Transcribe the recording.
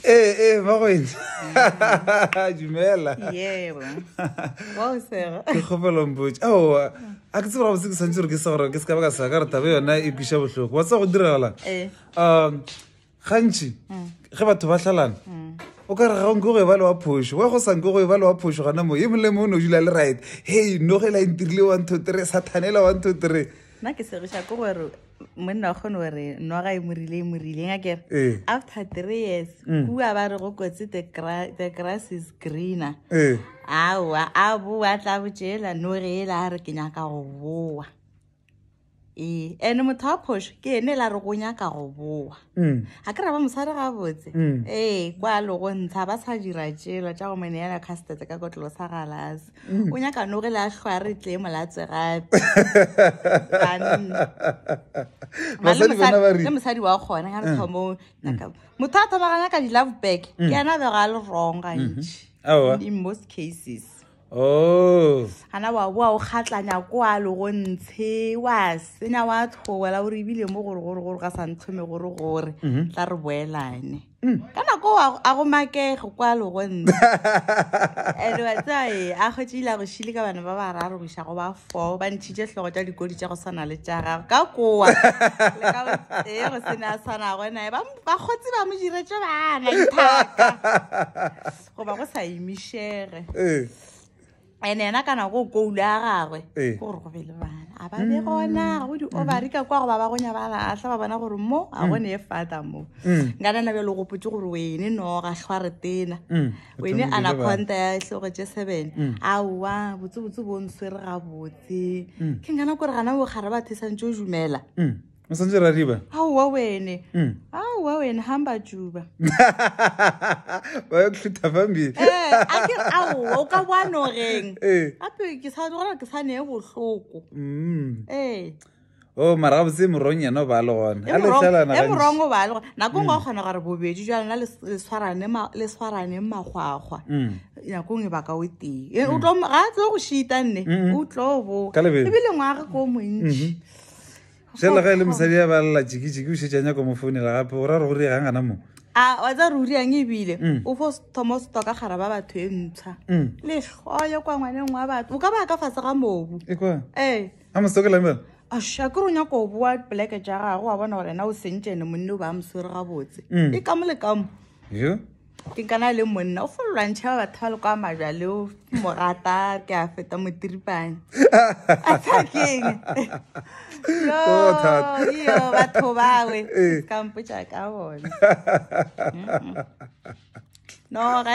ee ee ba go etse dumela ke kgopelongpotse aowa a ke tsebega botse ke tshwanetse gore ke sa gore ke se ka ba ka sa ka re tabe yona e kwiša botlhoko wa tsa go diragalang um gantši mm. ge batho ba tlhalana mm. o ka re ga nke go e ba le wa phoso wa go sa nke go e ba le wa phoso gona mo e molemo o ne o dula le right hey nogela e ntirile one two three sathanela one two three nna ke segiša ke gore monna wa kgone gore nwa ga e morile e morile nga kere eh. after three years mm. kua ba re go kotse the grass is greener eh. aowa a boa tla botšeela no ge e la re ke nyaka go boa ee and motho wa phoso ke ene e la re go nyaka go boa ga mm. ke ra ba mosadi gabotse mm. ee kwa logo ntsha ba sa dira tšela tša go mone yana custete ka kotlolo sa galase o nyaka no re le a hlwa re tle molatse gape le mosadi wa kgone ga re thomong motho a thomagana ka di-love back ke ena bego a le wrong gantši in most cases Oh. ana wa boa o kgatlanya kwa le go ntshe wa senya wa tlhowela gore ebile mo gore gore gore ga sa ntlhome gore gore mhm. tla re boelane Mm. ka nako a go makege kwa legontse and wa tsae a kgotse ile a go šile ka bana ba bararo go iša go ba four ba ntšhitše tlhogo tša dikodi tša go swana le tša gago ka kowa le ka ee go sene a tshwanago nae ba kgotse ba mo diretse bana dithaka goba go sa emišege ee. and ena kana go koulu ya gagwe eh. gore go be le bana a ba be gona go di-ovary ka kwa go ba ba gonya ba latlha ba bona gore mo a gone mm. e fata mo mm. nka nana bjalo gopotse gore wene no ga tlhwa re tena mm. wene anaconta ya tlhogo tse seven aowa botsebotse bo nswere gabotse ke nkana kore gana bokgare ba thesantse o dumela o santse ra riba aowa wene hmm. aowa wene hamba juba ba yo tlhutha fambile eh, a ke aowa o ka bwano reng eh. gape ke sa gona ke sane e bohloko hmm. ee eh. o oh, mara botse morong yena o ba le gona e morong o ba le gona nako ngwe o kgona gore bobedi jwa lena le tshwaraneng magwagwa nako ngwe baka o tee ga a tlo go shita nne o tlo boka ebile ngwage ko montši mm-hmm. Jalo le ga e le mosadi ya ba lela jikijiki o šetse a nyako mo founela gape o ra re go rie gang gana moo a wa tsa ruri yang ebile mm. o fo thoma o stoka gara ba batho e ntsha mm. letlhoyo kwa ngwaneng wa batho o ka ba ka fase ga mobu e ee. a mostokela mela asha ke ronya ko boa pleke ja gago wa bona gore na o sentšene monne o ba moswere gabotse mm. e ka mo le kamo ke kana le monna o fo lwantšha ba batho ba le kwa majwa le o mo rata ke a feta motiripane a tsha keng oh, yo batho bawe eh. ka mpotsa ka bona no ga